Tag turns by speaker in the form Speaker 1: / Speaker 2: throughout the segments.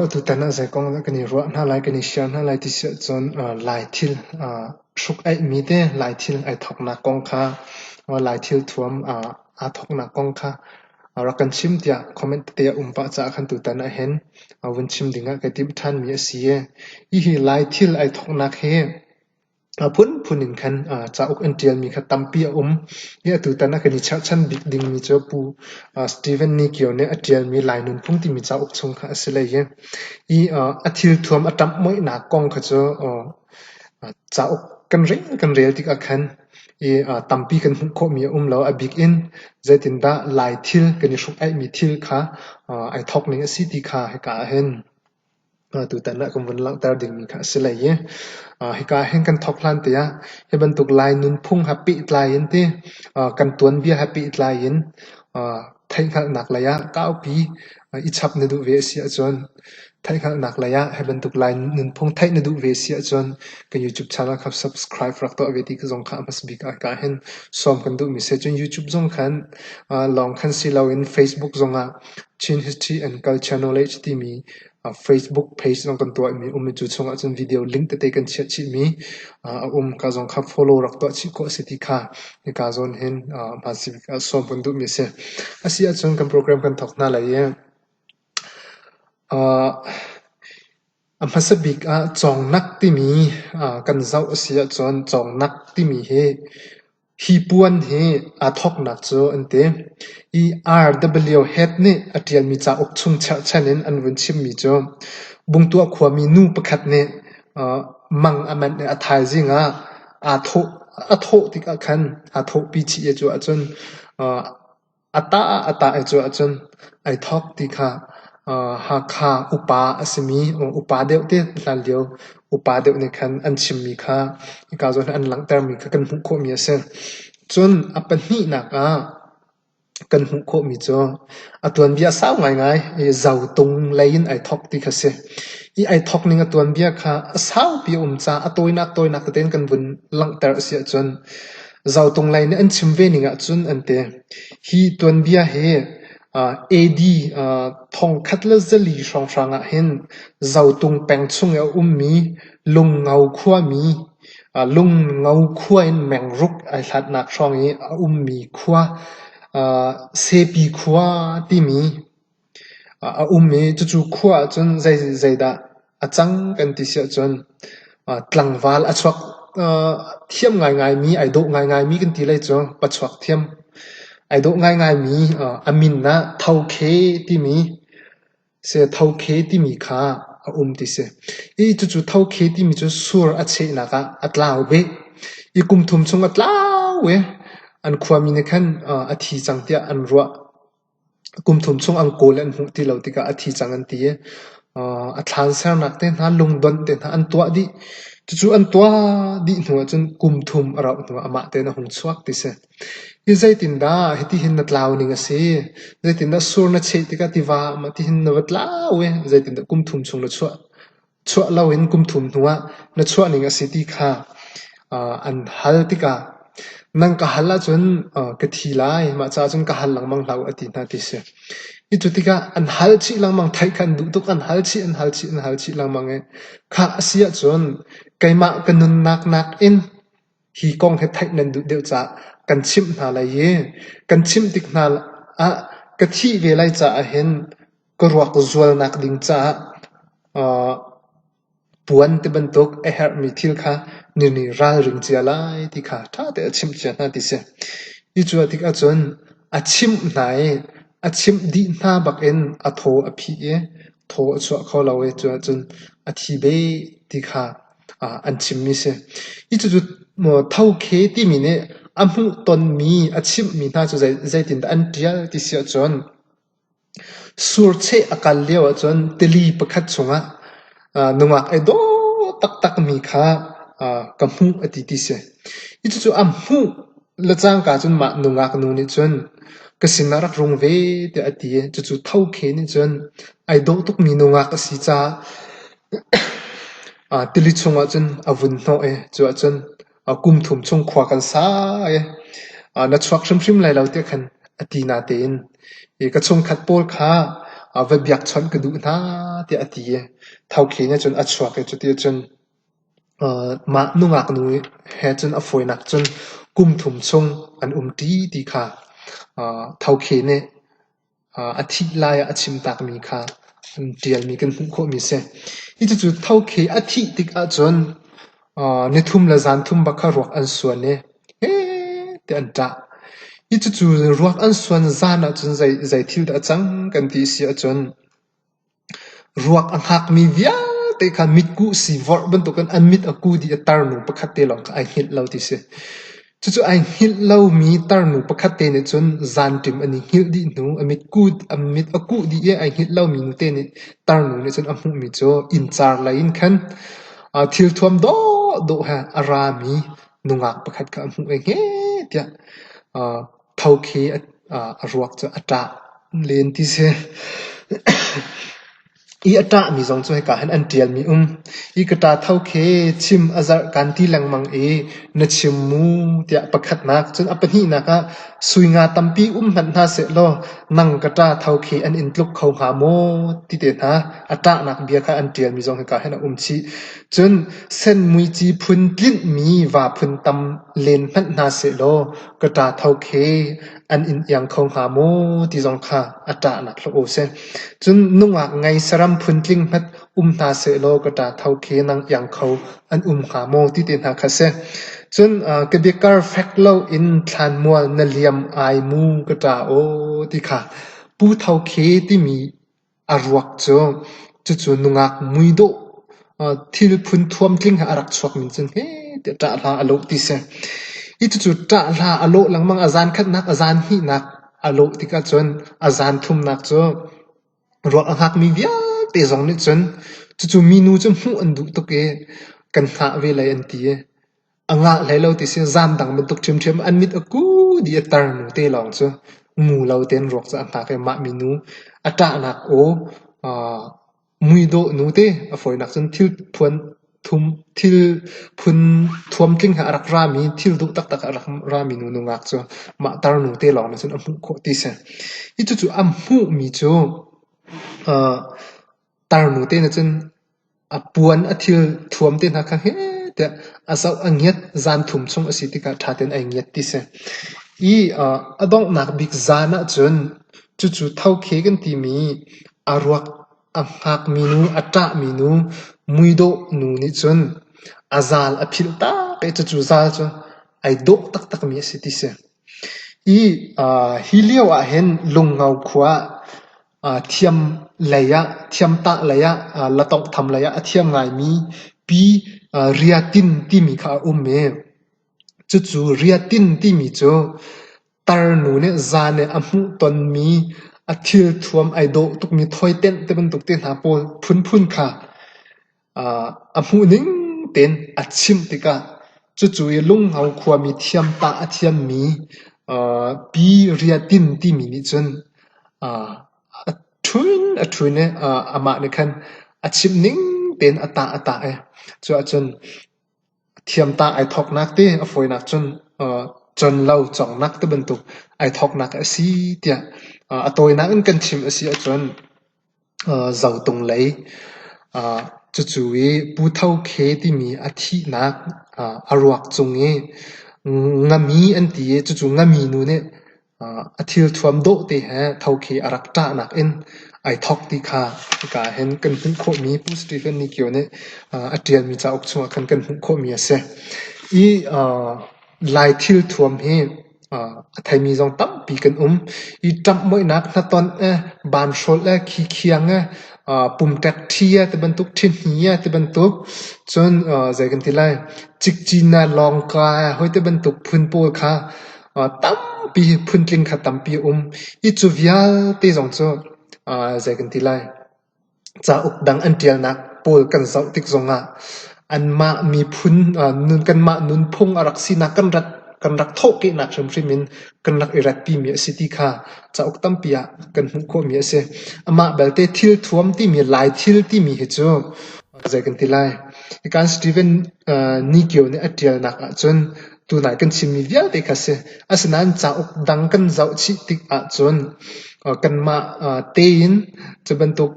Speaker 1: Atutan ah zei kong dah kan i ruah hna lai, kan i share hna lai ti si ahcun Laithil hruk aihmi te, Laithil ai thawknak kong kha, Laithil thuam aa thawknak kong kha rak kan chim tiah comment tete a um pah caah khan tutan ahhin vun chim ding ah kai timh ṭhanmi a si. Hihi Laithil ai thawknak hi A phunphun in khan cauk an ṭialmi kha tampi a um i atutan ah kan i cherhchan bik dingmi cu Pu Stephen Nikio nih a ṭialmi Lai Nunphung timi cauk chung kha a si lei i a thilthuam a ṭamh muihnak kong kha cu cauk kan rel kan rel tikah khan i tampi kan hmuh khawhmi a um lo. A bik in zeitindah Lai thil kan i hruk-aihmi thil kha ai thawk ning a si ti kha hika ah hin tutan ah kan vun langhter dingmi kha a si lei i hika ahhin kan thawk hlan te ah hi bantuk Lai nunphung he pehtlai in ti kan tuanbia he pehtlai in theihhngalhnak lei ah kaupi i chap na duh ve a si ahcun theihhngalhnak lei ah hi bantuk Lai nunphung theih na duh ve a si ahcun kan YouTube channel kha subscribe rak tuah ve ti zong kha a hmas bik ah hika hin sawm kan duhmi si cun YouTube zong khan lawng khan si loin Facebook zong ah Chin History and Culture Knowledge timi Facebook page zong kan tuahmi um i cu chungah cun video link tete kan chiah chihmi a um. Ka zong kha follow rak tuah chih khawh a si ti kha hika zawn hin hmansik sawm kan duhmi a si. A si ahcun kan program kan thawk hna lai i a hmasa bik ah cawngnak timi kan zoh a si ahcun cawngnak timi hi Hi puan hi aa thawknak cu an ti, i RWHead nih a ṭialmi cauk chung cherhchan in an vun chimmi cu Bungtuah khuami nu pakhat nih mang a manh i a thaizing ah a thawh tik ah khan aa thawhpi chih i cu ahcun A tah ah a tah i cuh ahcun ai thawk ti kha Hakha upa a simi upa deuh te hlanlio upa deuh nih khan an chimmi kha hika zawn an langhtermi kha kan hmuh khawhmi a si. Cun a pahnihnak ah kan hmuh khawhmi cu a tuanbia sau ngaingai i zotung lei in ai thawk ti kha a si. I ai thawk ning a tuanbia kha a saupi a um caah a tawinak tawinak tete in kan vun langhter a si ahcun Zautung lei nih an chim ve ning ahcun an ti: hi tuanbia hi AD thongkhat le zali hrawnghrang ah hin Zotung peng chung i a ummi Lungo khuami Lungo khua in mengruk ai hlatnak hrawng i a ummi khua Sepi khua timi A um i cucu khua ahcun zeidah a cang kan ti si ahcun tlangval a chuak thiam ngaingaimi, ai dawh ngaingaimi kan ti lai cu. Pachuak thiam. Ai dawh ngaingaimi a min ah thokhe timi si thokhe timi kha a um ti si. I cucu thokhe timi cu sur a chehnak ah a tlau bik. I kum thum chung a tlau i an khuami nih khan a thi cang tiah an ruah. kum thum chung an kawl i an hmuh ti lo tikah a thi cang an ti i a thlan sernak te hna, lungdonh te hna an tuah dih. Cucu an tuah dih hnu ahcun kum thum a rauh hnu ah amah tein a hung chuak ti si. Hi zeitindah hitihin na tlau ning a si? Zeitindah sur na cheh tikah tiva tihin na va tlau i zeitindah kum thum chung na chuah? chuah loin kum thum hnuah na chuahning a si ti kha an hal tikah nan ka hal ahcun ka thi lai, mah caah cun ka hal lengmang hlah u a ti hna ti si. Hi cu tikah an hal chih lengmang, theih kha an duh tuk, an hal chih, an hal chih, an hal chih lengmang i khah a si ahcun keimah ka nunnak nakin Hi kong hi theih nan duh deuh caah kan chimh hna lai i kan chimh tik hna ah ka thih ve lai caah hin ka ruak zualnak ding caah puan tibantuk a herhmi thil kha na nih ralring cia lai ti kha ṭha tein a chimh cia hna ti si. Hi cu a tik ahcun a chimh hna i a chimh dih hna bak in a thaw a phih i thaw a chuah kho lo i cu ahcun a thi beh ti kha an chimmi a si. Hi cucu thokhe timi nih a hmuhtonmi, a chimhmi hna cu zeitindah an ṭial ti si ahcun surcheh a kal lio ahcun tili pakhat chungah nungak ei daw taktakmi kha ka hmuh a ti ti si. Hi cucu a hmuh le cangka cun mah nungak nu nih cun ka sinah rak rung ve tiah a ti i cucu thokhe nih cun ai dawh tukmi nungak a si caah Tili chungah cun a vun hnawh i cu ah cun kum thum chung khua kan sa i na chuak hrimhrim lai lo tiah khan a ti nate in ka chungkhat pawl kha va biak chawnh ka duh hna tiah a ti i thokhi nih cun a chuak i cuti cun mah nungak nu he cun a fawinak cun kum thum chung an umṭi ti kha thokhi nih a thih lai ah a chim takmi kha an ṭialmi kan hmuh khawhmi a si. I cucu thokhi a thih tik ahcun ni thum le zan thum bak kha ruak an suan i hete an ṭah. I cucu ruak an suan zan ahcun zei thil dah a cang kan ti a si ahcun Ruak a hngakmi vialte kha mitkuh siivorh bantukin an mit a ku dih i tarnu pakhat te lawng kha ai hngilh lo ti a si. Cucu ai hngilh lomi tarnu pakhat te nih cun zanṭim an i hngilh dih hnu a mit kuh a mit a kuh dih i ai hngilh lomi nute nih tarnu nih cun a hmuhmi cu inncar lei in khan aa thilthuam dawhdawh he a rami nungak pakhat kha a hmuh i heh tiah aa Tho khi a ruak cu a ṭah len ti si. Ih a ṭahmi zong cu hika hin an ṭialmi um. Hi ka ṭa tho khi chim a zarh kaan ti lengmang i na chim mu tiah pakhatnak. Cun a pahnihnak ah sui nga tampi um hmanh hna sehlaw nang ka ṭa tho khi an in tluk kho hnga maw ti te hna. A ṭahnak bia kha an ṭialmi zong hika hin a um chih. Cun senmuici phun tlinhmi va phun tam len hmanh hna sehlaw Ka ṭahtho khi an in iang kho hnga maw ti zong kha a ṭahnak hlah u sih. Cun nungak ngei saram phuntling hmat um hna sehlaw ka ṭahtho khi nang iang kho an um hnga maw ti ti hna kha a si. Cun ka biakar fek loin thlanmual na liam ai mu ka ṭa aw ti kha pu tho khi timi A ruak cu cucu nungak muidawh thil phun-thuam tling he a rak chuak ning cun hehtiah ṭah hla a lawh ti si. Hi cucu ṭah hla a lawh lengmang. A zan khatnak, a zan hnihnak a lawh tikah cun a zan thumnak cu ruak a hngakmi vialte zong nih cun cucu minu cu hmuh an duh tuk i kan hngah ve lai an ti i. a ngah hlei lo ti sin zam dang bantuk ṭhimṭhim an mit a ku di a tar nu te lawng cu mu lo tein ruak cu a hngak i mah minu a ṭahnak aw muidawh nu te a fawinak cun thil phuan thum thil phun thuam tling he a rak rami thil duh taktak a rak rami nu nungak cu mah tar nu te lawng nih cun a hmuh khawh ti si i cucu a hmuhmi cu Tarnu te nih cun a puan a thil thuam te hna kha heh tiah a zoh a ngiat. Zan thum chung a si tikah ṭha tein ai ngiat ti si. I aa a donghnak bik zan ahcun cucu thokhe kan timi a ruak a hngakmi nu, a ṭahmi nu muidawh nu nih cun a zal a philh tak i cucu zal cu ai dawh taktakmi a si ti si. I aa hi lio ahhin Lungno khua ah Thiam lei ah, thiamtah lei ah, la tawnghtham lei ah a thiam ngaimi pi riatin timi kha a um i cucu riatin timi cu tarnu nih zan i a hmuhtonmi, a thilthuam ai dawh tukmi thawi tenh tibantuk te hna pawl phunphun kha a hmuhning tein a chimh tikah cucu i Lungho khuami thiamtah a thiammi Pi Ria Tin timi nih cun a ṭhun a ṭhun i amah nih khan a chimhning tein a tah a tah i cuah cun thiamtah ai thawknak te a fawinak cun conlo cawngnak tibantuk ai thawknak a si tiah a tawinak in kan chim a si ahcun Zotung lei. Cucu i Pu Tho Khe timi a thihnak a ruak cung i ngami an ti i cucu ngami nu nih a thilthuam dawh te he Tho Khe a rak ṭahnak in ai thawk ti kha hika ahhin kan hmuh khawhmi Pu Stephen Nikio nih a ṭialmi cauk chungah khan kan hmuh khawhmi a si. Hi Lai thilthuam hi a theimi zong tampi kan um. I ṭamhmoihnak hnatonh eh, banhrolh eh, khikhiang eh, pumṭek ṭhi eh, tibantuk ṭhihni eh, tibantuk. Cun zei kan ti lai, cikcinak lawngka eh, hoi tibantuk phun pawl kha tampi phuntling kha tampi a um. I cu vialte zong cu zei kan ti lai, Cauk dang an ṭialnak pawl kan zoh tik zongah anmah miphun kanmah nunphung a rak sinak kan rat kan rak thawhkehnak hrimhrim in kan rak i ratpimi a si ti kha cauk tampi ah kan hmuh khawhmi a si. Amah belte thil thuam timi, lai thil timi hi cu zei kan ti lai? Hi kan Steven Nigio nih a ṭialnak ahcun tunah kan chimmi vialte kha a si. Asinain cauk dang kan zoh chih tik ahcun kanmah tein cu bantuk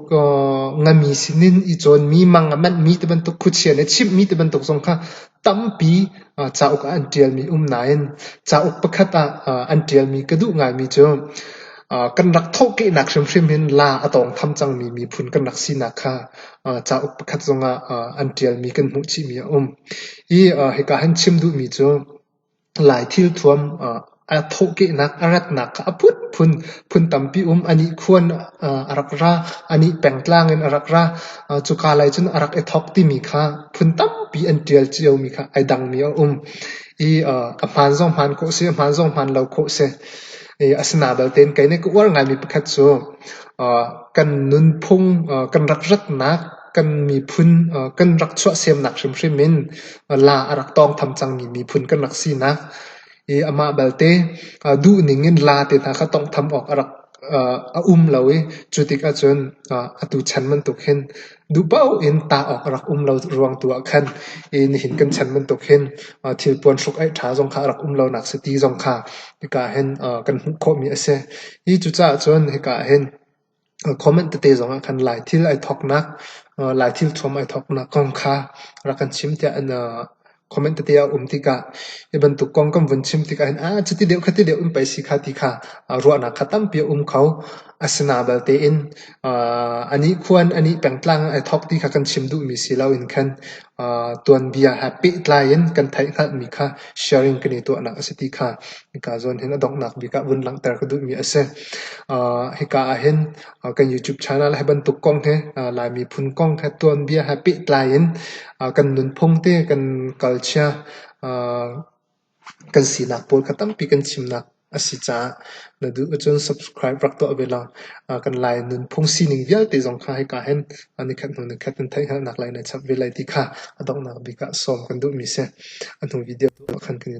Speaker 1: ngami sinin i cawnmi, mang a manhmi ti bantuk khuachia le chimhmi ti bantuk zong kha tampi cauk ah an ṭialmi um nain cauk pakhat ah an ṭialmi ka duh ngaimi cu kan rak thawhkehnak hrimhrim in la a tawngtham cangmi miphun kan rak sinak kha cauk pakhat zong ah an ṭialmi kan hmuh chihmi a um. Hika han chim duhmi cu Lai thilthuam ah thawhkehnak a ratnak kha a phunphun phun tampi um. A nihkhuan a rak ra, a nihpengtlang in a rak ra. Cuka lai cun a rak i thawk timi kha phun tampi an ṭial ciomi kha ai dangmi a um. A hmaan zong hmaan khawh seh, a hmaan zong hmaan lo khawh seh. Asinain balte in kei nih ka uar ngaimi pakhat cu kan nunphung, kan rak ratnak kan miphun kan rak chuahsemnak hrimhrim in la a rak tawngtham cangmi miphun kan rak sinak i amah balte duhning in la te hna kha tawnghtham awk a rak a um lo i cu tikah cun atu chan bantuk hin duh paoh in tah awk a rak um lo ruang tu ah khan i nihin kan chan bantuk hin thil puanhruk aih ṭha zong kha a rak um lonak si ti zong kha hika hin kan hmuh khawhmi a si. Hi cucaah cun hika hin Comment tete zong ah khan Laithil ai thawknak, Laithil thuam ai thawknak kong kha rak kan chim tiah an comment tete a um tikah hi bantuk kong kan vun chim tikah hin cuti deuh khati deuh um pei si kha ti kha ruahnak kha tampi a um kho. Asina balte in a nih khua in a nih pengtlang in ai thawk ti kha kan chim duhmi si lo in khan tuanbia he pehtlai in kan theihhngalhmi kha sharing kan i tuahnak a si ti kha hika zawn hin a donghnak bik ah vun langhter ka duhmi a si. Hika ahhin kan YouTube channel he bantuk kong hi Lai miphun kong he tuanbia he pehtlai in kan nunphung te kan kalchia Kan sinak pawl kha tampi kan chimnak a si caah na duh ahcun subscribe rak tuah ve law kan Lai nunphung sining vialte zong kha hika hin nikhat hnu nikhat nan theih hngalhnak lai na chap ve lai ti kha a donghnak bik ah sawm kan duhmi a si. A hnu video tuah khan kan i tel.